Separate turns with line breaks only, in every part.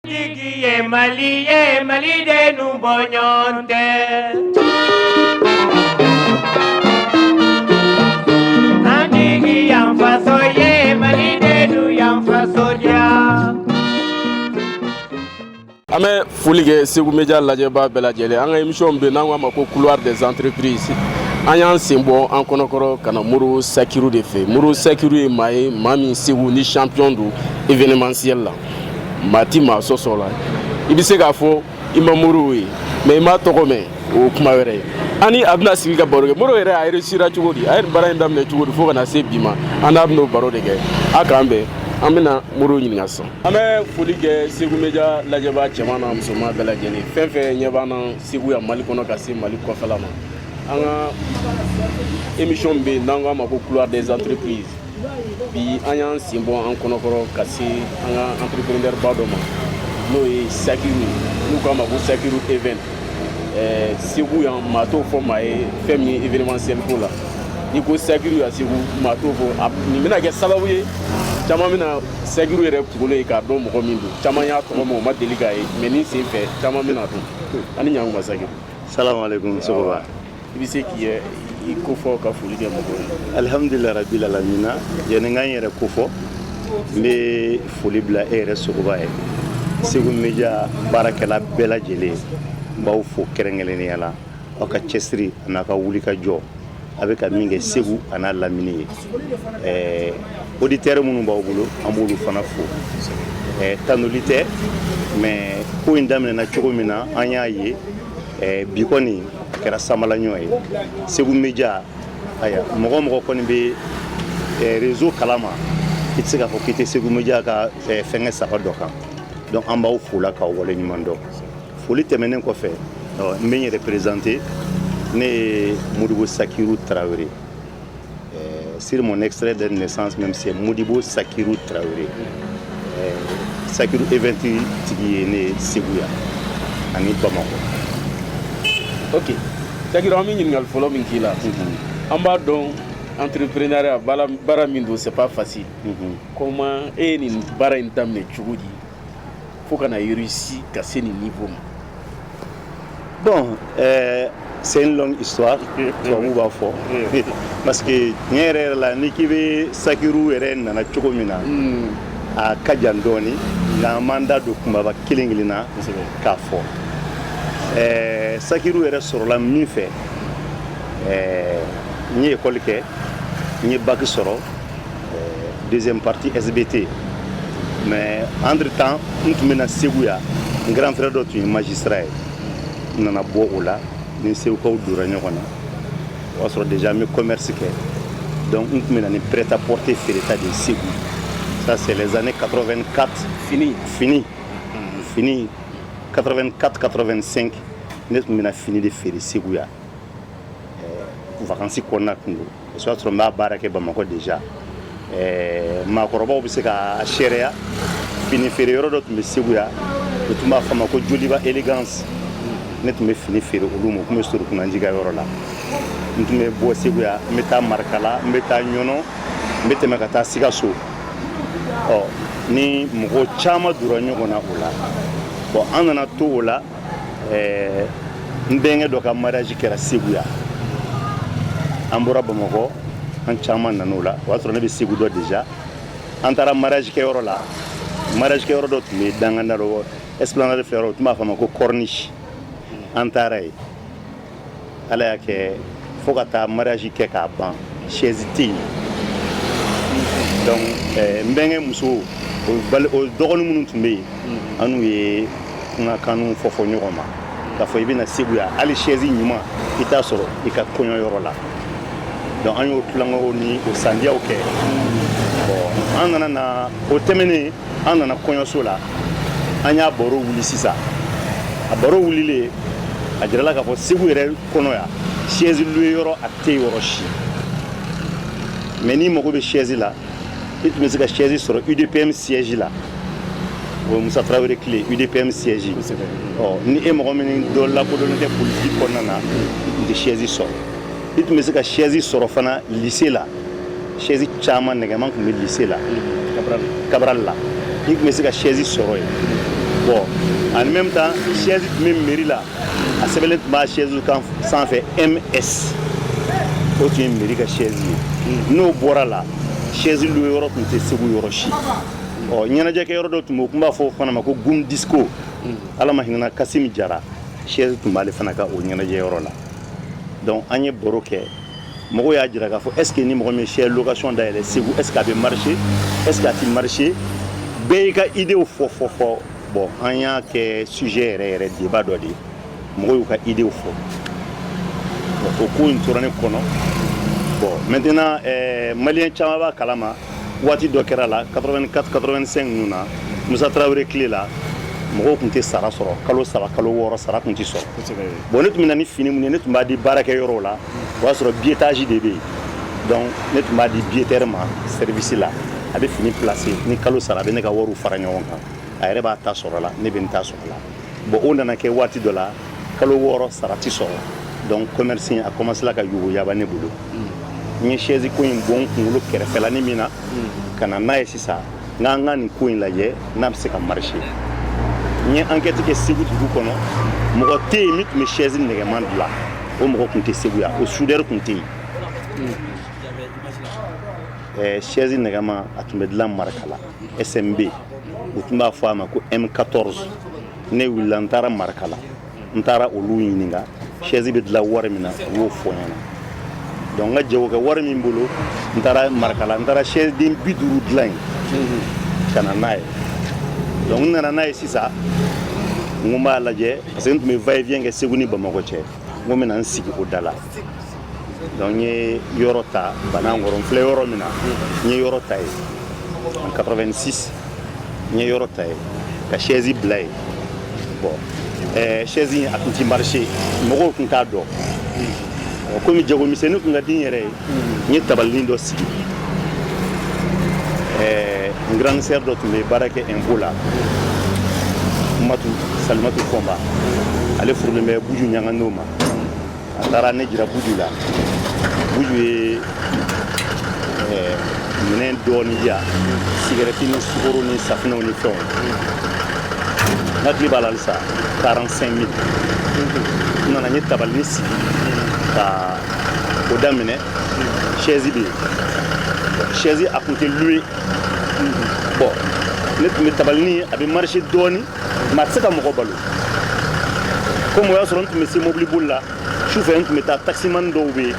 jigi ye mali ye malidenw bɔ ɲɔgɔn tɛ an jigi y'an faso ye malidenw y'an faso diya an bɛ foli kɛ segu media lajɛbaa bɛɛ lajɛlen an ka emisiyɔn bɛ n'an k'a ma ko couloir des entreprises an y'an sen bɔ an kɔnɔkɔrɔ ka na modibo sakiru de fɛ modibo sakiru ye maa ye maa min segu ni champion don événementiel la maa ti maa sɔsɔ la i bɛ se k'a fɔ i ma modibo ye mais i m'a tɔgɔ mɛn o kuma wɛrɛ ye an ni a bɛna sigi ka baro kɛ modibo yɛrɛ a yɛrɛ sera cogo di a ye baara in daminɛ cogo di fo ka na se bi ma an n'a bɛn'o baro de kɛ a k'an bɛn an bɛna modibo ɲininka sisan an bɛ foli kɛ segu media lajɛbaa cɛman na musoman bɛɛ lajɛlen fɛn fɛn ɲɛ b'an na segu yan mali kɔnɔ ka se mali kɔfɛla ma an ka émission bɛ yen n'an k'a ma ko couloir des entreprises bi an y'an sen bɔ an kɔnɔkɔrɔ ka se an ka entreprenɛrba dɔ ma n'o ye sakiru n'u k'a ma ko sakiru event segu yan maa t'o fɔ maa ye fɛn min ye événementiel ko la n'i ko sakiru ya segu maa t'o fɔ nin bɛna kɛ sababu ye caman bɛna sakiru yɛrɛ kunkolo ye k'a dɔn mɔgɔ min don caman y'a tɔgɔ mɛn u ma deli k'a ye mais nin sen fɛ caman bɛn'a dɔn ani ɲankuma sakiru salamu aleykum sogoba i bɛ se k'i yɛrɛ kofɔ ka foli kɛ mɔgɔw ye alihamudulilahi rabilalamina yanni n ka n yɛrɛ kofɔ n bɛ foli bila e yɛrɛ sogoba ye segu media baarakɛla bɛɛ lajɛlen n b'aw fo kɛrɛnkɛrɛnnenya la aw ka cɛsiri an'a ka wulikajɔ a bɛ ka min kɛ segu an'a lamini ye ɛɛ oditɛri minnu b'aw bolo an b'olu fana fo ɛɛ tanuli tɛ mais ko in daminɛna cogo min na an y'a ye eh, bi kɔni a kɛra sanbalaɲɔ ye segu media ayiwa mɔgɔ o mɔgɔ kɔni bɛ eh, rezo kala ma i tɛ se k'a fɔ k'i tɛ segu media ka eh, fɛnkɛ saba dɔ kan donc an b'aw fo o la k'aw wale ɲuman dɔn foli tɛmɛnen kɔfɛ n bɛ n yɛrɛ perezante ne ye modibo sakiru tarawele Sur mon extrait de naissance même c'est Modibo Sakiru Traoré Sakiru Event tigi ye ne Segu yan ani Bamakɔ. Ok Sakiru an bɛ ɲininkali fɔlɔ min k'i la an b'a dɔn entrepreneuriat baara baara min don c'est pas facile comment e ye nin baara in daminɛ cogo di? fo ka na réussi ka se nin niveau ma bon euh, c'est une longue histoire tubabu b'a fɔ parce que tiɲɛ yɛrɛ yɛrɛ la n'i k'i bɛ sakiru yɛrɛ nana cogo min na hmm. a ka jan dɔɔni nka an b'an da don kunbaba kelen kelen na k'a fɔ euh, sakiru yɛrɛ sɔrɔla min fɛ euh, n ye ekɔli kɛ n ye baki sɔrɔ deuxième partie SBT mais entre temps n tun bɛ na segu yan n grand frère dɔ tun ye magistrat ye n nana bɔ o la ni segukaw dora ɲɔgɔn na o y'a sɔrɔ déjà n bɛ commerce kɛ donc n tun bɛ na ni prêt à porter feereta de ye segu ça c'est les années 84 fini fini fini 84 85 ne tun bɛ na fini de feere segu yan vacances kɔnɔna tun don o y'a sɔrɔ n b'a baara kɛ bamakɔ déjà maakɔrɔbaw bɛ se k'a seereya fini feere yɔrɔ dɔ tun bɛ segu yan u tun b'a fɔ a ma ko joliba élégance ne tun bɛ fini feere olu ma u tun bɛ sɔrɔ kunji yɔrɔ la n tun bɛ bɔ segu yan n bɛ taa marikala n bɛ taa ɲɔnɔ n bɛ tɛmɛ ka taa sikaso ɔ ni mɔgɔ caman donna ɲɔgɔn na o la bɔn an nana to o la ɛɛ n bɛnkɛ dɔ ka mariage kɛra segu yan an bɔra bamakɔ an caman nan'o la o y'a sɔrɔ ne bɛ segu dɔn déjà an taara mariage kɛyɔrɔ la mariage kɛyɔrɔ dɔ tun bɛ dankan na l'esplanade fɛ yɔrɔ u tun b'a fɔ a ma ko corniche an taara yen ala y'a kɛ fo ka taa mariage kɛ k'a ban chaise tɛ yen donc eh, n bɛnkɛ muso o dɔgɔnin minnu tun bɛ yen mm-hmm. an n'u ye kumakanw fɔ fɔ ɲɔgɔn ma k'a fɔ i bɛ na segu yan hali chaise ɲuman i t'a sɔrɔ i ka kɔɲɔ yɔrɔ la donc an y'o tulonkow ni o sandiyaw kɛ mm-hmm. bon an nana na o tɛmɛnen an nana kɔɲɔso la an y'a baro wuli sisan a baro wulilen a jirala k'a fɔ segu yɛrɛ kɔnɔ yan chaise louer yɔrɔ a tɛ yɔrɔ si mais n'i mago bɛ chaise la i tun bɛ se ka chaise sɔrɔ udpm siège la o ye musa tarawele tile udpm siège ɔ ni e mɔgɔ min dɔ lakodɔnnen tɛ politiki kɔnɔna na i tun tɛ chaise sɔrɔ i tun bɛ se ka chaise sɔrɔ fana lycée la sɛzi caman nɛgɛman tun bɛ lise la kabarali la i tun bɛ se ka sɛzi sɔrɔ yen bɔn en même temps sɛzi tun bɛ meri la a sɛbɛnlen tun b'a sɛzi kan sanfɛ ms o tun ye meri ka sɛzi ye hmm. n'o bɔra la sɛzi luwe yɔrɔ tun tɛ segu yɔrɔ si ɔ ɲɛnajɛkɛ yɔrɔ dɔ tun bɛ u tun b'a fɔ o fana ma ko gum disco hmm. ala ma hinɛna kasimi jara sɛzi tun b'ale fana ka o ɲɛnajɛ yɔrɔ la donc an ye baro kɛ mɔgɔw y'a jira k'a fɔ est ce que ni mɔgɔ min chaise location dayɛlɛ segu est ce que a bɛ marcher est ce que a tɛ marcher bɛɛ y'i ka idew fɔ fɔ fɔ bon an y'a kɛ sujet yɛrɛ yɛrɛ débat dɔ de ye mɔgɔw y'u ka idew fɔ bon o ko in tora ne kɔnɔ bon maintenant eh, maliyɛn caman b'a kalama waati dɔ kɛra la 84 85 ninnu na musa tarawele tile la mɔgɔw tun tɛ sara sɔrɔ kalo saba kalo wɔɔrɔ sara tun tɛ sɔrɔ bon ne tun bɛ na ni fini min ye ne tun b'a di baarakɛ yɔrɔw la o y'a sɔrɔ biyetaji de bɛ yen donc ne tun b'a di biyetɛri ma sɛrivisi la a bɛ fini placé ni kalo sara a bɛ ne ka wariw fara ɲɔgɔn kan a yɛrɛ b'a ta sɔrɔ la ne bɛ n ta sɔrɔ la bon o nana kɛ waati dɔ la kalo wɔɔrɔ sara tɛ sɔrɔ donc commerce a commencela ka yogoyaba ne bolo n ye chaise ko in bɔ n kunkolo kɛrɛfɛlani min na ka na n'a ye sisan n k'an ka nin ko in lajɛ n'a bɛ se ka marché n ye enquête kɛ segu dugu kɔnɔ mɔgɔ tɛ yen min tun bɛ chaise nɛgɛman dilan o mɔgɔ tun tɛ segu yan o soudeur tun tɛ yen eh, chaise nɛgɛman a tun bɛ dilan marakala smb u tun b'a fɔ a ma ko m14 ne wulila n taara marakala n taara olu ɲininka sɛzi bɛ dilan wari min na u y'o fɔ n ɲɛna donc n ka jago kɛ wari min bolo n taara marakala n taara sɛzi den bi duuru dilan yen ka na n'a ye donc n nana n'a ye sisan n ko n b'a lajɛ parce que n tun bɛ va et vient kɛ segu ni bamakɔ cɛ n ko n bɛna n sigi o da la Donc n ye yɔrɔ ta banankɔrɔ n filɛ yɔrɔ min na n ye yɔrɔ ta yen en 86 n ye yɔrɔ ta yen ka chaise bila yen bon eh, chaise in a tun ti marché mɔgɔw tun t'a dɔn komi jagomisɛnnin tun ka di n yɛrɛ ye n ye tabalinin dɔ sigi eh, n grande sœur dɔ tun bɛ baara kɛ impôt la matu salimatu fɔnba ale furulen bɛ buju ɲangadu ma a taara ne jira buju la buju ye eh, minɛn dɔɔni di yan sigarɛti ni sukoro ni safinɛw ni fɛnw n hakili b'a la halisa 45 mille n nana n ye tabalinin sigi ka o daminɛ sɛzi bɛ yen sɛzi a tun tɛ luwe bon ne tun bɛ tabalinin a bɛ marché dɔɔni Mais a tɛ se ka mɔgɔ balo komi y'a sɔrɔ n tun bɛ se mobili boli la su fɛ n tun bɛ taa taximan dɔw bɛ yen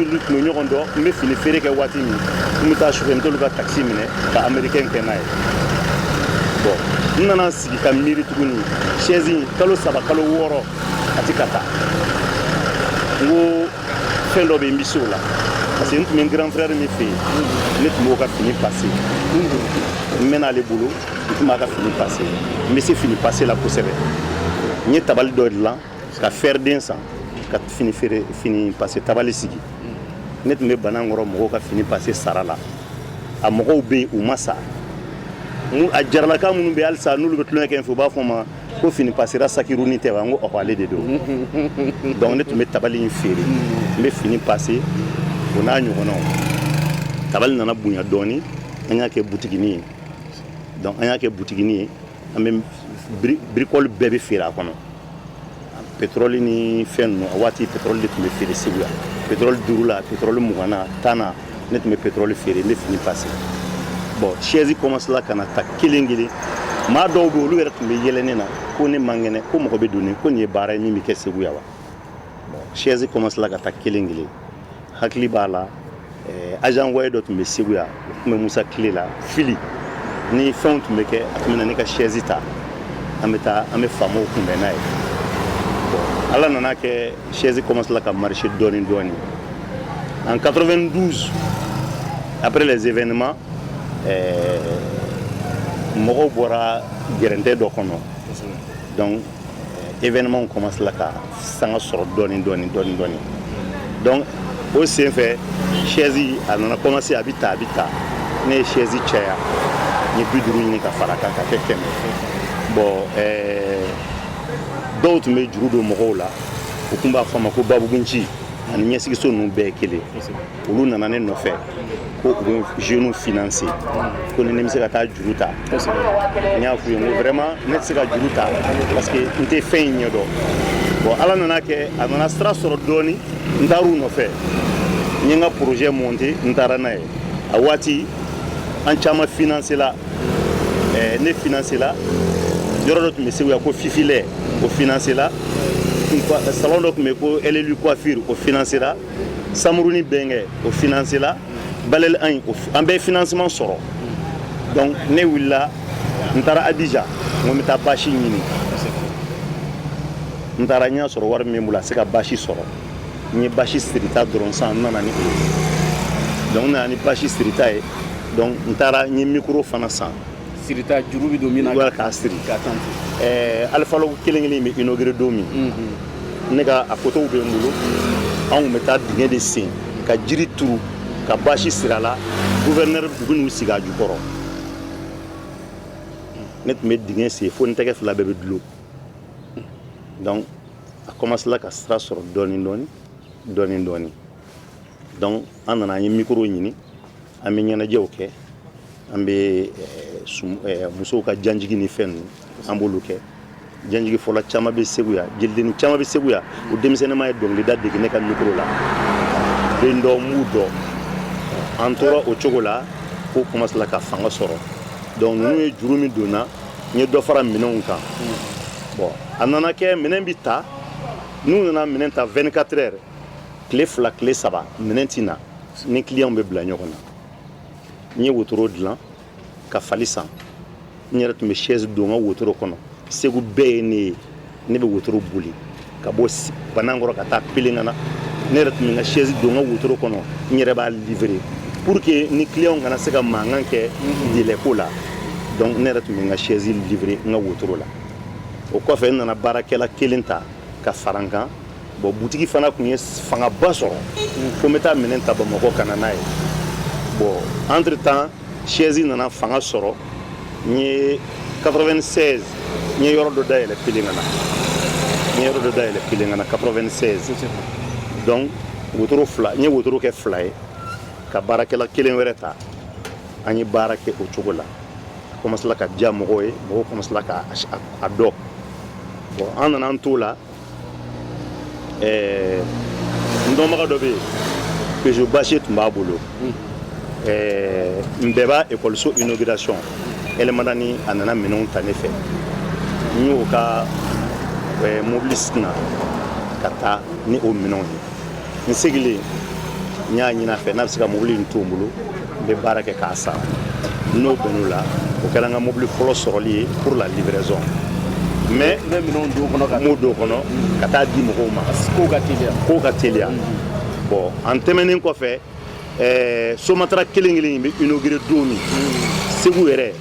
n'u tun bɛ ɲɔgɔn dɔn n bɛ fini feere kɛ waati min n bɛ taa sufɛ n t'olu ka takisi minɛ ka américain kɛ n'a ye n nana sigi ka miiri tuguni sɛzi in kalo saba kalo wɔɔrɔ a tɛ ka taa n ko fɛn dɔ bɛ n bɛ se o la parce que n tun bɛ grand frère min fɛ yen ne tun b'o ka fini pase n mɛn'ale bolo n tun b'a ka fini pase n bɛ se fini pase la kosɛbɛ n ye tabali dɔ dilan ka fɛriden san ka fini feere fini pase tabali sigi ne tun bɛ banankɔrɔ mɔgɔw ka fini pase sara la a mɔgɔw bɛ yen u ma sa a jaralaka minnu bɛ halisa n'olu bɛ tulon kɛ fɛ u b'a fɔ n ma ko fini pasera sakiurun ni tɛ wa n ko ɔ ale de don donc ne tun bɛ tabali in feere n bɛ fini pase o n'a ɲɔgɔnw tabali nana bonya dɔɔnin an y'a kɛ butigi ye donc an y'a kɛ butigini ye an bɛ birikɔli bɛɛ bɛ feere a kɔnɔ pétrole ni fɛn ninnu a waati pétrole de tun bɛ feere segu yan pétrole duuru la pétrole mugan na tan na ne tun bɛ pétrole feere n bɛ fini pase bon chaise commencela ka na ta kelen kelen maa dɔw bɛ olu yɛrɛ tun bɛ yɛlɛ ne na ko nin man kɛnɛ ko mɔgɔ bɛ don ne ko nin ye baara ye min bɛ kɛ segu yan wa chaise commencela ka ta kelen kelen hakili b'a la eh, agent voyer dɔ tun bɛ Segu yan o tun bɛ Musa tile la fili ni fɛnw tun bɛ kɛ a tun bɛ na ne ka chaise ta an bɛ taa an bɛ faamaw kunbɛn n'a ye ala nana kɛ chaise commencela ka marcher dɔɔni dɔɔni en 92 après les événements eh, mɔgɔw bɔra gɛrɛntɛ dɔ kɔnɔ donc événements commencela ka sanga sɔrɔ dɔɔni dɔɔni dɔɔni dɔɔni donc o senfɛ sɛzi a nana commencer a bɛ taa a bɛ taa ne ye sɛzi caya n ye bi duuru ɲini ka fara a kan ka kɛ kɛmɛ bon dɔw tun bɛ juru don mɔgɔw la u tun b'a fɔ a ma ko babugunci ani ɲɛsigiso ninnu bɛɛ ye kelen olu nana ne nɔfɛ ko u bɛ jeunes financer ko ni ne bɛ se ka taa juru ta n y'a f'u ye n ko vraiment ne tɛ se ka juru ta parce que n tɛ fɛn in ɲɛdɔn bon ala nana kɛ a nana sira sɔrɔ dɔɔni n taara u nɔfɛ n ye n ka projet monter n taara n'a ye a waati an caman financela eh, ne financela yɔrɔ dɔ tun bɛ segu yan ko fifilɛ o financela salon dɔ tun bɛ ko LLU coiffure o financela samuru ni bɛnkɛ o finansela balɛli an ye an bɛɛ finansiman sɔrɔ donc ne wulila n taara abijan n ko n bɛ taa basi ɲini n taara n y'a sɔrɔ wari min bɛ n bolo a tɛ se ka basi sɔrɔ n ye basi sirita dɔrɔn san n nana ni o ye donc n nana ni basi sirita ye donc n taara n ye mikoro fana san Siri juru bɛ don min na k'a siri ka tan alifa kelen kelen bɛ inaugurer don min ne ka a fotow bɛ n bolo an tun bɛ taa dingɛ de sen ka jiri turu ka basi siri a la gouverneur bugu ninnu sigi a jukɔrɔ ne tun bɛ dingɛ sen fo n tɛgɛ fila bɛɛ bɛ dulo donc a commencela ka sira sɔrɔ dɔɔni dɔɔni dɔɔni dɔɔni donc an nana an ye mikoro ɲini an bɛ ɲɛnajɛw kɛ an bɛ musow ka janjigi ni fɛn ninnu an b'olu kɛ janjigi fɔla caman bɛ segu yan jelidenini caman bɛ segu yan u denmisɛnninma ye dɔnkilida dege ne ka mikoro la den dɔw n b'u dɔn an tora o cogo la ko commencela ka fanga sɔrɔ donc ninnu ye juru min don n na n ye dɔ fara minɛnw kan bon a nana kɛ minɛn bɛ ta n'u nana minɛn ta 24 heures tile fila tile saba minɛn tɛna na ni clients bɛ bila ɲɔgɔn na n ye wotoro dilan ka fali san n yɛrɛ tun bɛ chaise don n ka wotoro kɔnɔ segu bɛɛ ye ne ye ne bɛ wotoro boli ka bɔ banankɔrɔ ka taa pelengana ne yɛrɛ tun bɛ n ka chaise don n ka wotoro kɔnɔ n yɛrɛ b'a livrer pour que ni clients kana se ka mankan kɛ délai ko la donc ne yɛrɛ tun bɛ n ka chaise livrer n ka wotoro la o kɔfɛ n nana baarakɛla kelen ta ka fara n kan bon butigi fana tun ye fangaba sɔrɔ fo n bɛ taa minɛn ta bamakɔ ka na n'a ye bon entre temps chaise nana fanga sɔrɔ n ye 96 n ye yɔrɔ dɔ dayɛlɛ pelengana n ye yɔrɔ dɔ dayɛlɛ pelengana 96 donc wotoro fila n ye wotoro kɛ fila ye ka baarakɛla kelen wɛrɛ ta an ye baara kɛ o cogo la a kɔmasila ka diya mɔgɔw ye mɔgɔw kɔmasila k'a dɔn bon an nana an t'o la ɛɛ n dɔnbaga dɔ bɛ yen peugeot bâchée tun b'a bolo ɛɛ npɛba ekɔliso inauguration el madani a nana minɛnw ta ne fɛ n y'o ka ɛɛ mobili singa ka taa ni o minɛnw ye n segilen n y'a ɲin'a fɛ n'a bɛ se ka mobili in to n bolo n bɛ baara kɛ k'a sara n n'o bɛnn'o la o kɛra n ka mobili fɔlɔ sɔrɔli ye pour la livraison mais n bɛ minɛnw don kɔnɔ ka m'o don kɔnɔ ka taa di mɔgɔw ma kow ka teliya kow ka teliya mm-hmm. bon an tɛmɛnen kɔfɛ ɛɛ somatara kelen kelen in bɛ inaugurer don min mm-hmm. segu yɛrɛ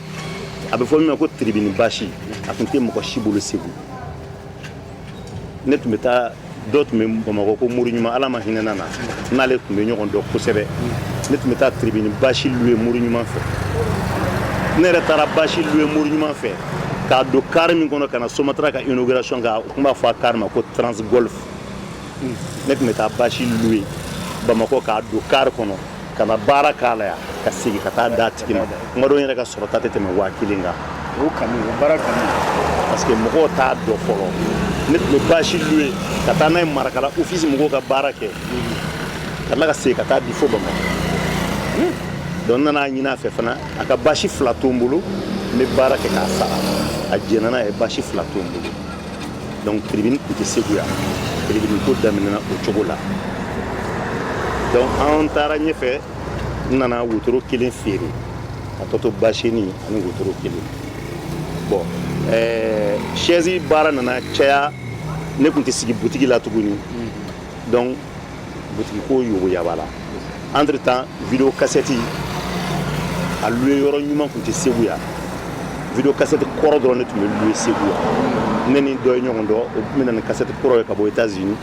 a bɛ fɔ min ma ko tiribini basi a tun tɛ mɔgɔ si bolo segu ne tun bɛ taa dɔ tun bɛ bamakɔ ko muru ɲuman ala ma hinɛ a na n n'ale tun bɛ ɲɔgɔn dɔn kosɛbɛ ne tun bɛ taa tribini basi louer muru ɲuman fɛ ne yɛrɛ taara basi louer muru ɲuman fɛ k'a don kari min kɔnɔ ka na somatara ka inauguration kɛ u tun b'a fɔ a kari ma ko transgolf ne tun bɛ taa basi louer bamakɔ k'a don kari kɔnɔ ka na baara k'a la yan ka segin ka taa d'a tigi ma tuma dɔ n yɛrɛ ka sɔrɔta tɛ tɛmɛ waa kelen kan o kanu o baara kanu parce que mɔgɔw t'a dɔn fɔlɔ ne tun bɛ basi louer ka taa n'a ye marakala ofisi mɔgɔw ka baara kɛ ka tila ka segin ka taa di fo bamakɔ donc n nan'a ɲin'a fɛ fana a ka basi fila to n bolo n bɛ baara kɛ k'a sara a jɛnna a ye basi fila to n bolo donc tribune tun tɛ segu yan tribune ko daminɛna o cogo la donc an taara ɲɛfɛ n nana wotoro kelen feere a tɔ to baseni ani wotoro kelen bon ɛɛ chaise baara nana caya ne tun tɛ sigi butigi la tuguni donc butigi ko yuguyaba la entre-temps video kasɛti a luye yɔrɔ ɲuman tun tɛ segu yan video kasɛti kɔrɔ dɔrɔn ne tun bɛ luye segu yan ne ni dɔ ye ɲɔgɔn dɔn o tun bɛ na ni kasɛti kɔrɔ ye ka bɔ etats unis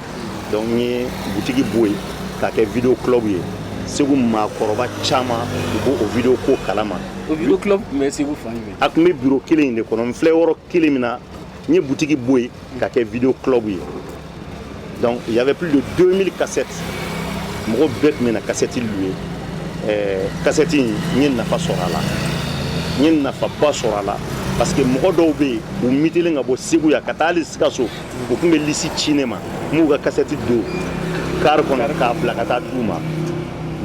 donc n ye butigi bɔ yen k'a kɛ video club ye segu maakɔrɔba caman u b'o o video ko kalama o video club tun bɛ segu fan jumɛn a tun bɛ biro kelen in de kɔnɔ n filɛ yɔrɔ kelen min na n ye butigi bɔ yen k'a kɛ video club ye donc il y avait plus de 2000 cassettes mɔgɔ bɛɛ tun bɛ na kasɛti luye kasɛti in n ye nafa sɔrɔ a la n ye nafaba sɔrɔ a la parce que mɔgɔ dɔw bɛ yen u mitelen ka bɔ segu yan ka taa hali sikaso u tun bɛ lisi ci ne ma n b'u ka kasɛti don kari kɔnɔ k'a bila ka taa d'u ma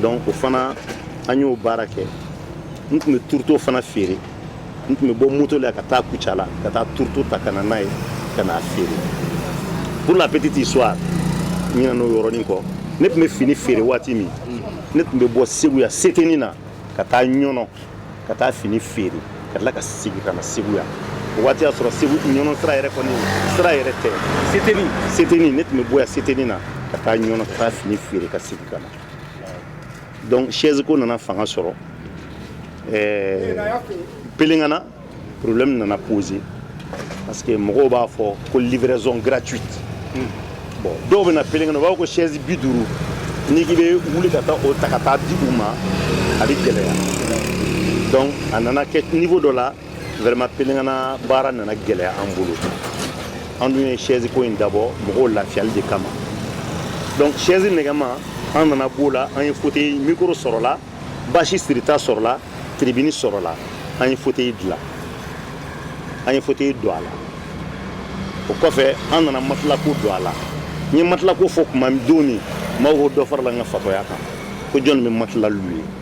donc o fana an y'o baara kɛ n tun bɛ turuto fana feere n tun bɛ bɔ moto la ka taa kucala ka taa turuto ta ka na n'a ye ka n'a feere pour la petite histoire n ɲinɛna o yɔrɔnin kɔ ne tun bɛ fini feere waati min ne tun bɛ bɔ segu yan seteni na ka taa ɲɔnɔ ka taa fini feere ka tila ka segin ka na segu yan o waati y'a sɔrɔ segu ɲɔnɔ sira yɛrɛ kɔni sira yɛrɛ tɛ seteni seteni ne tun bɛ bɔ yan seteni na ka taa ɲɔnɔ ka taa fini feere ka segin ka na donc chaise ko nana fanga sɔrɔ eh, pelengana problème nana poser parce que mɔgɔw b'a fɔ ko livraison gratuite bon dɔw bɛ na pelengana u b'a fɔ ko chaise bi duuru n'i k'i bɛ wuli ka taa o ta ka taa di u ma a bɛ gɛlɛya donc a nana kɛ niveau dɔ la vraiment pelengana baara nana gɛlɛya an bolo an dun ye chaise ko in dabɔ mɔgɔw lafiyali de kama donc chaise nɛgɛma an nana b'o la an ye fauteuil mikoro sɔrɔla basi sirita sɔrɔla tiribini sɔrɔla an ye fauteuil dilan an ye fauteuil don a la o kɔfɛ an nana matelas ko don a la n ye matelas ko fɔ tuma don min maaw ko dɔ farala n ka fatɔya kan ko jɔn bɛ matelas luye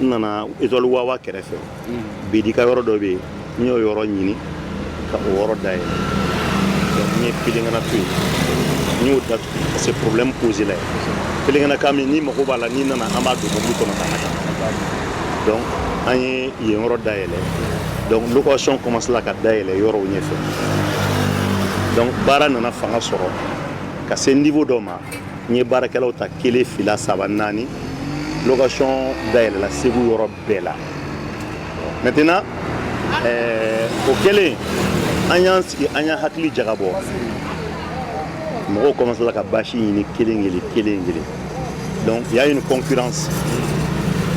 n nana étoile wawa kɛrɛfɛ bidika yɔrɔ dɔ bɛ yen n y'o yɔrɔ ɲini ka o yɔrɔ dayɛlɛ n ye pelengana to yen n y'o datugu parce que problème poséla yen pelengana kan min ni mago b'a la n'i nana an b'a don mobili kɔnɔ ka na donc an ye yen yɔrɔ dayɛlɛ donc location kɔmansela ka dayɛlɛ yɔrɔw ɲɛfɛ donc baara nana fanga sɔrɔ ka se niveau dɔ ma n ye baarakɛlaw ta kelen fila saba naani location dayɛlɛla segu yɔrɔ bɛɛ la maintenant eh, o kɛlen an y'an sigi an y'an hakili jagabɔ mɔgɔw kɔmansela ka basi ɲini kelen kelen kelen kelen donc il y a une concurrence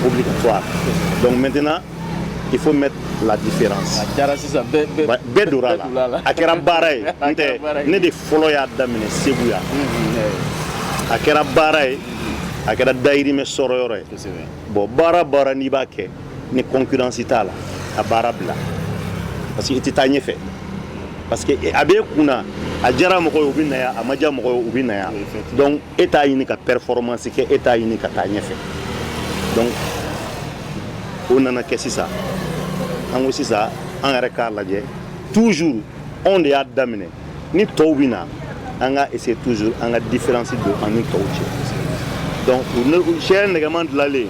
obligatoire donc maintenant il faut mettre la différence a diyara sisan bɛɛ bɛɛ Ba- bɛɛ donna a donna a la la. a kɛra baara ye A n tɛ kɛra baara ye. ne de fɔlɔ y'a daminɛ segu yan a kɛra baara ye a kɛra dayirimɛ sɔrɔ yɔrɔ ye kosɛbɛ bɔn baara baara n'i b'a kɛ ni concurrence t'a la a baara bila parce que i tɛ taa ɲɛfɛ parce que a b'i kun na a diyara mɔgɔ ye u bɛ na yan a ma diya mɔgɔ ye u bɛ na yan Effectivement. donc e t'a ɲini ka performance kɛ e t'a ɲini ka taa ɲɛfɛ donc o nana kɛ sisan an ko sisan an yɛrɛ k'a lajɛ toujours anw de y'a daminɛ ni tɔw bɛ na an ka essayer toujours an ka différence don an ni tɔw cɛ donc sɛ nɛgɛman dilanlen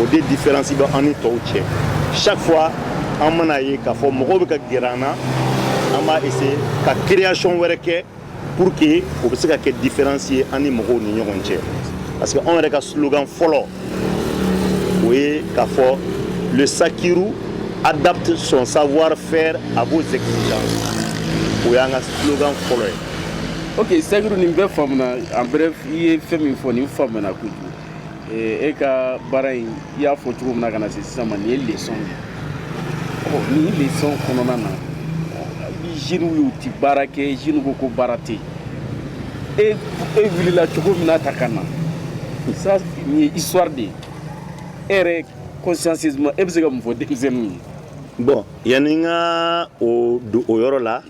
o de différence bɛ an ni tɔw cɛ chaque fois an mana ye k'a fɔ mɔgɔw bɛ ka gɛrɛ an na an b'a essayer ka création wɛrɛ kɛ pour que o bɛ se ka kɛ différence ye an ni mɔgɔw ni ɲɔgɔn cɛ parce que anw yɛrɛ ka slogan fɔlɔ o ye k'a fɔ le sakiru adapte son savoir faire à vos exigences o y'an ka slogan fɔlɔ ye ok sakiru nin bɛɛ faamuna en bref i ye fɛn min fɔ nin faamuna kojugu e ka baara in i y'a fɔ cogo min na ka na se sisan ma nin ye leçon de ye ɔ nin leçon kɔnɔna na jeunes y'u ti baara kɛ jeunes ko ko baara tɛ yen e e wulila cogo min na taa ka na sa nin ye histoire de ye e yɛrɛ consciemment e bɛ se ka mun fɔ denmisɛnninw ye. bɔn yanni n ka don o yɔrɔ la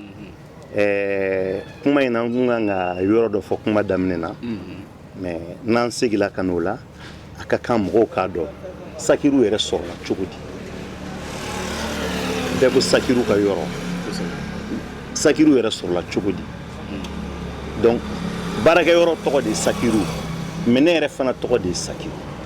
ɛɛ kuma in na n tun kan ka yɔrɔ dɔ fɔ kuma daminɛ na. Mm -hmm. Mais n'an segila ka n'o la, a ka kan mɔgɔw k'a dɔn sakiru yɛrɛ sɔrɔla cogo di? Bɛɛ ko sakiru ka yɔrɔ. Sakiru yɛrɛ sɔrɔla cogo di? Donc baarakɛ yɔrɔ tɔgɔ de ye sakiru mais ne yɛrɛ fana tɔgɔ de ye sakiru.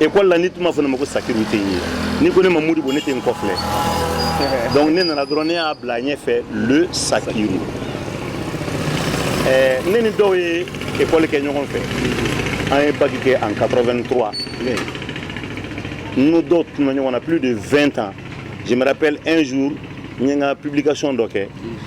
ekɔli la n'i tun m'a fɔ ne ma ko sakiru ten yen n'i ko ne ma modibo ne tɛ n kɔfilɛ donc ne nana dɔrɔn ne y'a bila a ɲɛfɛ le sakiru eh, ne ni dɔw ye ekɔli kɛ ɲɔgɔn fɛ an ye bac kɛ en 83 n'o dɔw tununna ɲɔgɔn na plus de 20 ans je me rappelle un jour n ye n ka publication dɔ kɛ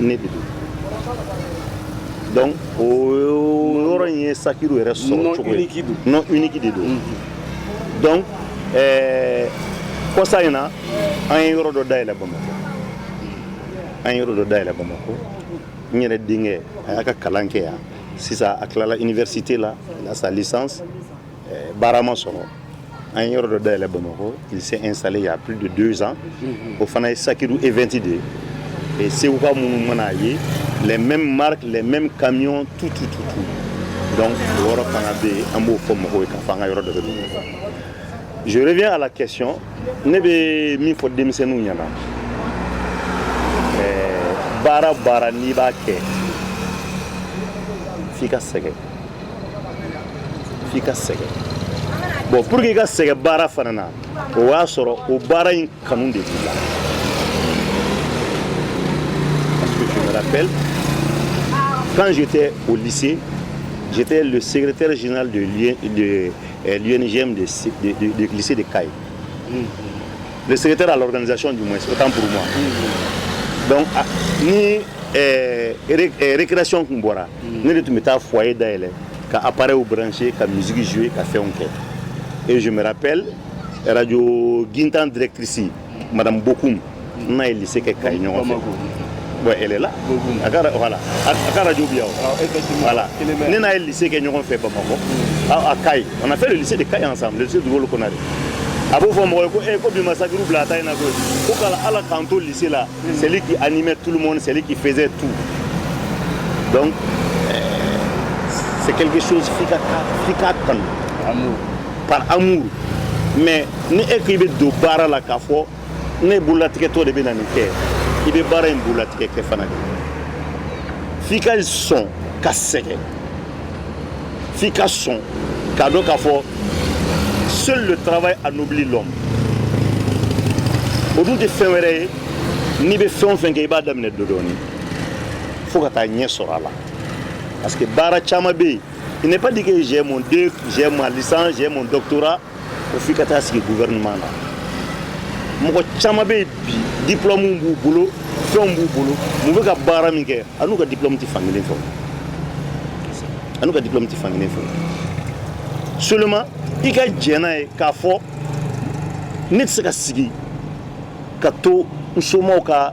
ne de don donc o yɔrɔ in ye sakiru yɛrɛ sɔrɔ cogo ye nom unique de don donc ɛɛ kɔsa in na an ye yɔrɔ dɔ dayɛlɛ bamakɔ an ye yɔrɔ dɔ dayɛlɛ bamakɔ n yɛrɛ denkɛ a y'a ka kalan kɛ yan sisan a tilala université la a sa licence baara ma sɔrɔ an ye yɔrɔ dɔ dayɛlɛ bamakɔ il s'est installé il y a plus de deux ans o fana ye sakiru event de ye et seguka minnu mana a ye les mêmes marques les mêmes camions tout tout tout tout donc o yɔrɔ fana bɛ yen an b'o fɔ mɔgɔw ye k'a fɔ an ka yɔrɔ dɔ bɛ bamakɔ je reviens à la question ne bɛ min fɔ denmisɛnninw ɲɛ na baara baara n'i b'a kɛ f'i ka sɛgɛn f'i ka sɛgɛn bon pour que i ka sɛgɛn baara fana na o y'a sɔrɔ o baara in kanu de b'i la parce que je me rappelle quand j'étais au lycée j'étais le secrétaire général de l'UNJM de, de, de, de lycée de Kayes mm. le secrétaire à l'organisation du moins autant pour moi mm. donc ah, ni eh, eh, récréation kun bɔra mm. ne de tun bɛ taa foyer dayɛlɛ ka appareilw brancher ka musique jouer ka fɛnw kɛ et je me rappelle radio gintan directrice madame bokum ne n'a ye lycée kɛ kayi ɲɔgɔn fɛ bon elle est là a ka voilà a ka radio bi yan ah, voilà ne n'a ye lycée kɛ ɲɔgɔn fɛ bamakɔ à Kayes. On a fait le lycée de Kayes ensemble, le lycée Dougoukolo Konaré. a b'o fɔ mɔgɔ ye ko e ko bi ma sakiru bila a ta in na koyi ko kala ala k'an to lycée la c'est lui qui animait tout le monde c'est lui qui faisait tout donc euh, c'est quelque chose f'i ka f'i k'a kanu par amour mais ni e k'i bɛ don baara la k'a fɔ ne bololatigɛtɔ de bɛ na nin kɛ i bɛ baara in bololatigɛ kɛ fana de f'i ka sɔn ka sɛgɛn f'i ka sɔn k'a dɔn k'a fɔ seul le travail anoblit l'homme o dun tɛ fɛn wɛrɛ ye n'i bɛ fɛn o fɛn kɛ i b'a daminɛ dɔdɔɔni fo ka taaɲɛ sɔrɔ a la parce que baara caman bɛ yen Il n'est pas dit que j'ai mon DEUG, j'ai ma licence, j'ai mon doctorat. o f'i ka taa sigi gouvernement na. Mɔgɔ caman bɛ bi diplôme b'u bolo fɛnw b'u bolo minnu bɛ ka baara min kɛ a n'u ka diplôme tɛ fan kelen fɛ a n'u ka diplôme tɛ fan kelen fɛ seulement i ka jɛn n'a ye k'a fɔ ne tɛ se ka sigi ka to n somaw ka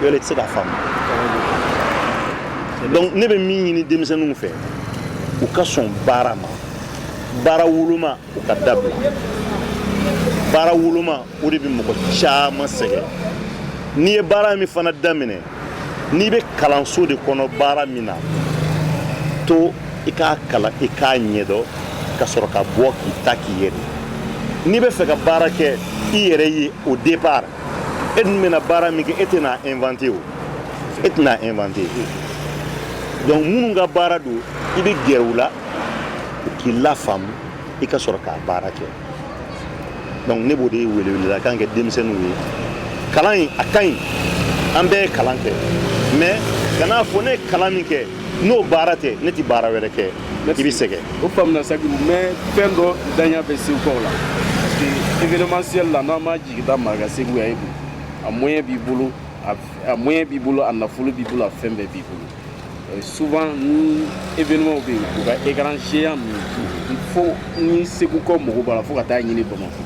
yɔrɔ tɛ se ka faamu donc ne bɛ min ɲini denmisɛnninw fɛ u ka sɔn baara ma baara woloma u ka dabila baara woloma o de bɛ mɔgɔ caman sɛgɛn n'i ye baara min fana daminɛ n'i bɛ kalanso de kɔnɔ baara min na to i k'a kalan i k'a ɲɛdɔn ka sɔrɔ ka bɔ k'i ta k'i yɛrɛ n'i bɛ fɛ ka baara kɛ i yɛrɛ ye au départ e dun bɛna baara min kɛ e tɛna inventer o e tɛna inventer donc minnu ka baara don i bɛ gɛrɛ u la k'i lafaamu i ka sɔrɔ k'a baara kɛ donc ne b'o de weleweledakan kɛ denmisɛnninw ye kalan in a ka ɲi an bɛɛ ye kalan kɛ mais kan'a fɔ ne ye kalan min kɛ n'o baara tɛ ne tɛ baara wɛrɛ kɛ i bɛ sɛgɛn o faamuna sakibu mais fɛn dɔ danya bɛ se kɔw la parce que événementiel la n'an m'a I taa maraka segu yan e dun a moyen b'i bolo a moyen b'i bolo a nafolo b'i bolo a fɛn bɛɛ b'i bolo euh, souvent ni événement bɛ yen u ka écran géant min fo ni segu kɔ mɔgɔw b'a la fo ka taa a ɲini bamakɔ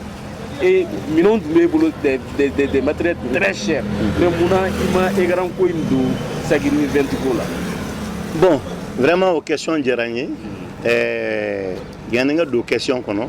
et minɛnw tun b'e bolo des des des des matériels très chers mais mun na i ma écran ko in don sagini vent ko la. bon vraiment o question diyara n ye ɛɛ yanni n ka don question kɔnɔ.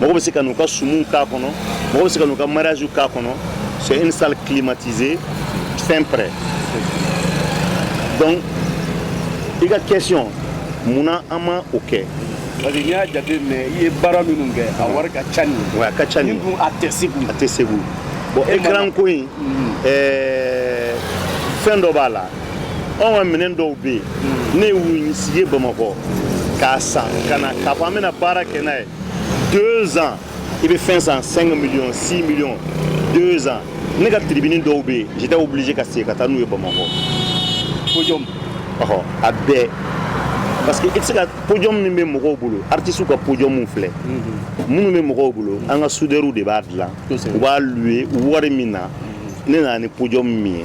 mɔgɔ bɛ se ka n'u ka sumuw k'a kɔnɔ mɔgɔ bɛ se ka n'u ka mariage k'a kɔnɔ c'est une salle climatisée fin prêt donc i ka question mun na an ma o kɛ parce que n'i y'a jate minɛ i ye baara minnu kɛ a wari ka ca nin ye oui a ka ca nin ye nin dun a tɛ segu a tɛ segu bon écran ko in fɛn dɔ b'a la anw ka minɛn dɔw bɛ yen ne y'u sigi bamakɔ k'a san ka na k'a fɔ an bɛna baara kɛ n'a ye deux ans i bɛ fɛn san 5 millions 6 millions deux ans ne ka tribune dɔw bɛ yen j'étais obligé ka segin ka taa n'u ye bamakɔ podium ɔhɔ a bɛɛ parce que i tɛ se ka podium min bɛ mɔgɔw bolo artistes ka podium filɛ minnu bɛ mɔgɔw bolo an ka soudeurs de b'a dilan u b'a louer wari min na ne nana ni podium min ye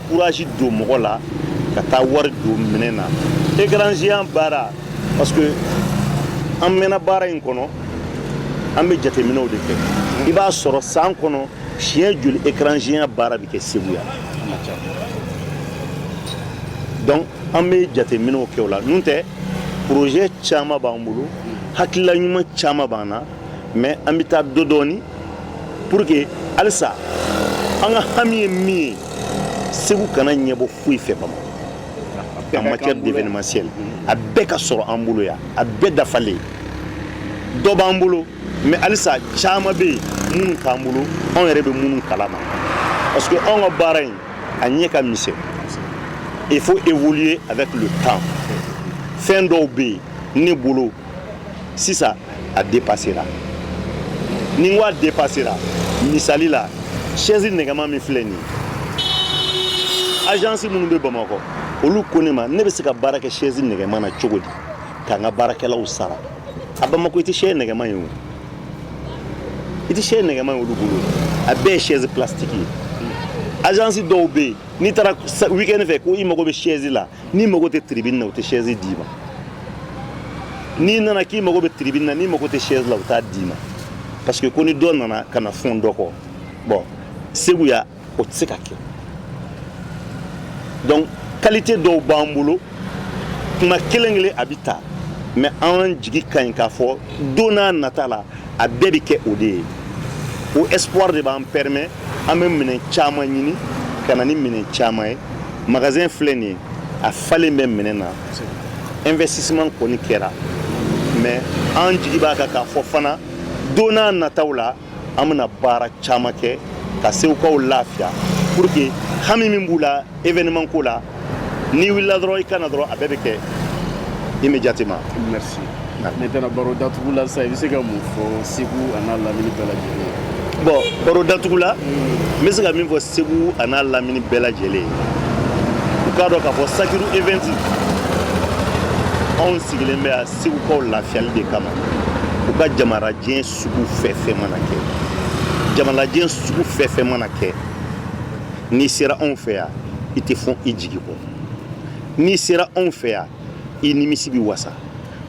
courage don mɔgɔ la ka taa wari don minɛn na écran géant baara parce que an mɛnna baara in kɔnɔ an bɛ jateminɛw de kɛ i b'a sɔrɔ san kɔnɔ siɲɛ joli écran géant baara bɛ kɛ Segu yan donc an bɛ jateminɛw kɛ o la n'o tɛ projet caman b'an bolo hakilila ɲuman caman b'an na mais an bɛ taa dɔɔni dɔɔni pour que alisa an ka hami ye min ye segu kana ɲɛbɔ foyi fɛ bamakɔ en matière d'événementiel a bɛɛ ka sɔrɔ an bolo yan a bɛɛ dafalen dɔ b'an bolo mais alisa caman bɛ yen minnu t'an bolo anw yɛrɛ bɛ minnu kalama parce que anw ka baara in a ɲɛ ka misɛn il faut évoluer avec le temps fɛn dɔw bɛ yen ne bolo sisan a depasera ni n ko a depasera misali la sɛzi nɛgɛma min filɛ nin ajansi minnu bɛ bamakɔ olu ko ne ma ne bɛ se ka baara kɛ sɛzi nɛgɛma na cogo di ka n ka baarakɛlaw sara a bamakɔ i tɛ sɛzi nɛgɛma ye o i tɛ sɛzi nɛgɛma ye olu bolo a bɛɛ ye sɛzi plasitiki ye ajansi dɔw bɛ yen n'i taara weekend fɛ ko i mago bɛ sɛzi la n'i mago tɛ tiribini na u tɛ sɛzi d'i ma n'i nana k'i mago bɛ tiribini na n'i mago tɛ sɛzi la u t'a d'i ma parce que ko ni dɔ nana ka na fɛn dɔ kɔ bɔn segu yan o tɛ se ka kɛ donc kalite dɔw b'an bolo kuma kelen kelen a bɛ ta mais an jigi ka ɲi k'a fɔ don n'a nata la a bɛɛ bɛ kɛ o de ye o espoir de b'an permet an bɛ minɛn caman ɲini ka na ni minɛn caman ye magasin filɛ nin ye a falen bɛ minɛn na investissement kɔni kɛra mais an jigi b'a kan k'a fɔ fana don n'a nataw la an bɛna baara caman kɛ ka segukaw lafiya pour que hami min b'u la événement ko la n'i wulila dɔrɔn i ka na dɔrɔn a bɛɛ bɛ kɛ immédiatement ne taara baro datugu la sa i bɛ se ka mun fɔ segu an'a lamini bɛɛ lajɛlen bon baro datugu la n bɛ se ka min fɔ segu an'a lamini bɛɛ lajɛlen ye u k'a dɔn k'a fɔ sagiru event anw sigilen bɛ yan segukaw lafiyali de kama u ka jamalajɛ sugu fɛn fɛn mana kɛ jamalajɛ sugu fɛn fɛn mana kɛ n'i sera anw fɛ yan i tɛ fɔ i jigi kɔ n'i sera anw fɛ yan i nimisi bɛ wasa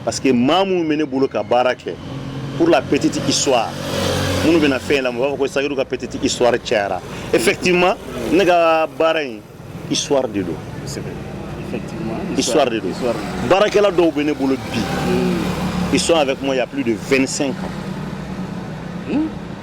parce que maa minnu bɛ ne bolo ka baara kɛ pour la petite histoire minnu bɛna fɛn in lamɛn u b'a fɔ ko sagiru ka petite histoire cayara effectivement ne ka baara in histoire de don histoire de don baarakɛla dɔw bɛ ne bolo bi hmm. ils sont avec moi il y a plus de 25 ans hmm?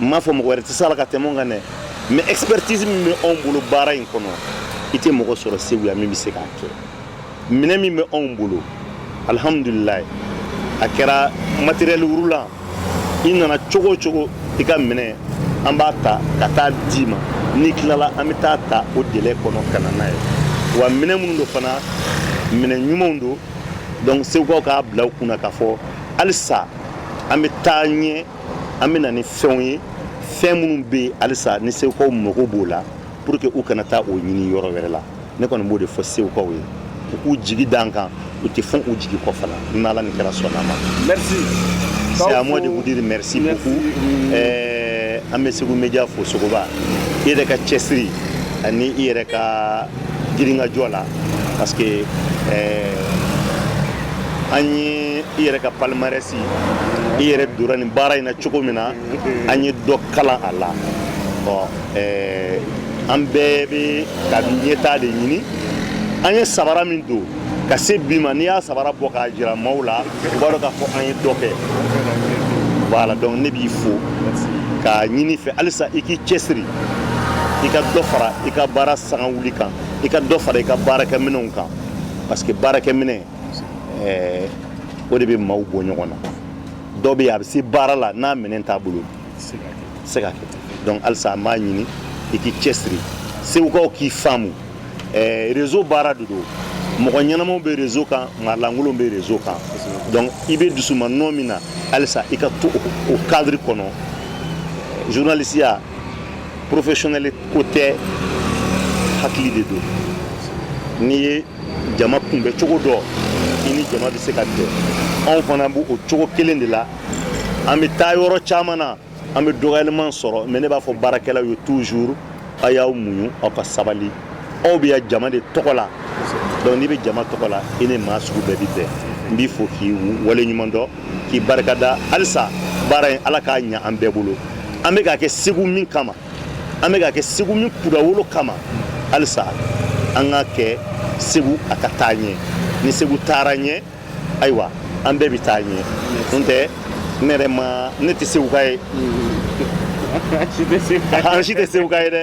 n m'a fɔ mɔgɔ wɛrɛ tɛ se a la ka tɛmɛ an kan dɛ mais expertise min bɛ anw bolo baara in kɔnɔ i tɛ mɔgɔ sɔrɔ segu yan min bɛ se k'a kɛ minɛ min bɛ anw bolo alihamdulila a kɛra matériel roulant i nana cogo cogo i ka minɛ an b'a ta ka taa d'i ma n'i tilala an bɛ taa ta o délai kɔnɔ ka na n'a ye wa minɛ minnu don fana minɛ ɲumanw don donc segukaw k'a bila u kun na k'a fɔ halisa an bɛ taa ɲɛ an bɛna ni fɛnw ye fɛn minnu bɛ yen halisa ni segukaw mago b'o la pour que u kana taa o ɲini yɔrɔ wɛrɛ la ne kɔni b'o de fɔ segukaw ye u k'u jigi d'an kan u tɛ fɔ u jigi kɔ fana ni ala ni kira sɔnna a ma merci c'est à moi de vous dire merci beaucoup ɛɛ an bɛ segu media fo sogoba i yɛrɛ ka cɛsiri ani i yɛrɛ ka girinkajɔ la parce que eh, an ye i yɛrɛ ka palmarès i yɛrɛ dora nin baara in na cogo min na an ye dɔ kalan a la ɔ eh, an bɛɛ bɛ ka ɲɛtaa de ɲini an ye sabara min don ka se bi ma n'i y'a sabara bɔ k'a jira maaw la u b'a dɔn k'a fɔ an ye dɔ kɛ voilà donc ne b'i fo k'a ɲini i fɛ halisa i k'i cɛsiri i ka dɔ fara i ka baara sanga wuli kan i ka dɔ fara i ka baarakɛminɛnw kan parce que baarakɛminɛn eh, o de bɛ maaw bɔ ɲɔgɔn na dɔ bɛ yen a bɛ se baara la n'a minɛn t'a bolo se ka kɛ donc halisa an b'a ɲini i k'i cɛsiri segukaw k'i faamu réseau baara de don mɔgɔ ɲɛnamaw bɛ réseau kan maalankolonw bɛ réseau kan donc i bɛ dusu ma nɔ min na halisa i ka to o cadre kɔnɔ journalisteya professionnel ko tɛ hakili de don n'i ye jama kunbɛn cogo dɔn i ni jama bɛ se ka bɛn anw fana b'o cogo kelen de la an bɛ taa yɔrɔ caman na an bɛ dɔgɔyalima sɔrɔ mais ne b'a fɔ baarakɛlaw ye toujours a y'aw muɲu aw ka sabali aw bɛ yan jama de tɔgɔ la donc n'i bɛ jama tɔgɔ la i ni maa sugu bɛɛ bɛ bɛn n b'i fo k'i wale ɲuman dɔn k'i barikada halisa baara in ala k'a ɲa an bɛɛ bolo an bɛ k'a kɛ segu min kama an bɛ k'a kɛ segu min kunnawolo kama halisa an k'a kɛ segu a ka taa ɲɛ ni segu taara ɲɛ ayiwa an bɛɛ bɛ taa ɲɛ n tɛ ne yɛrɛ ma ne tɛ seguka ye an si tɛ seguka ye dɛ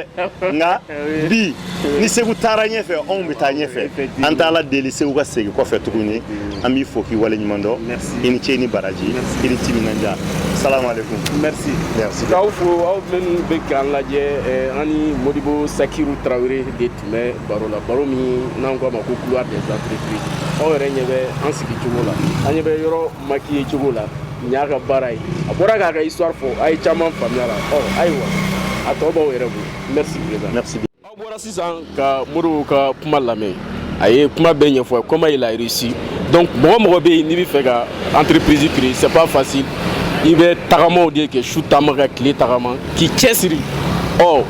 nka bi ni segu taara ɲɛfɛ anw bɛ taa ɲɛfɛ an t'ala deli segu ka segin kɔfɛ tuguni an b'i fo k'i wale ɲuman dɔn i ni ce ni baraji i ni timinandiya salamalekun merci merci k'aw fo aw minnu bɛ k'an lajɛ an ni modibo sakiru tarawele de tun bɛ baro la baro min n'an ko a ma ko couloir des entreprises aw yɛrɛ ɲɛ bɛ an sigi cogo la aw ɲɛ bɛ yɔrɔ maquiller cogo la nin y'a ka baara ye a bɔra k'a ka histoire fɔ aw ye caman faamuya la ɔ ayiwa a tɔ b'aw yɛrɛ bolo merci président merci aw bɔra sisan ka modibo ka kuma lamɛn a ye kuma bɛɛ ɲɛfɔ comment il a réussi donc mɔgɔ mɔgɔ bɛ yen n'i bɛ fɛ ka entreprise créer c'est pas facile i bɛ tagamaw de kɛ su taama ka tile tagama k'i cɛsiri ɔ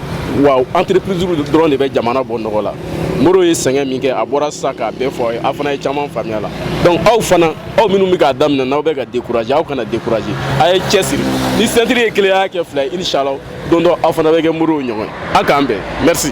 wa entreprise dɔrɔn de bɛ jamana bɔ nɔgɔ la modibo ye sɛgɛn min kɛ a bɔra sisan k'a bɛɛ fɔ aw ye aw fana ye caman faamuya la donc aw fana aw minnu bɛ k'a daminɛ n'aw bɛ ka décourager aw kana décourager a ye cɛsiri ni sentiri ye kelen ye a y'a kɛ fila ye inshallah don dɔ aw fana bɛ kɛ modibo ɲɔgɔn ye aw k'an bɛn merci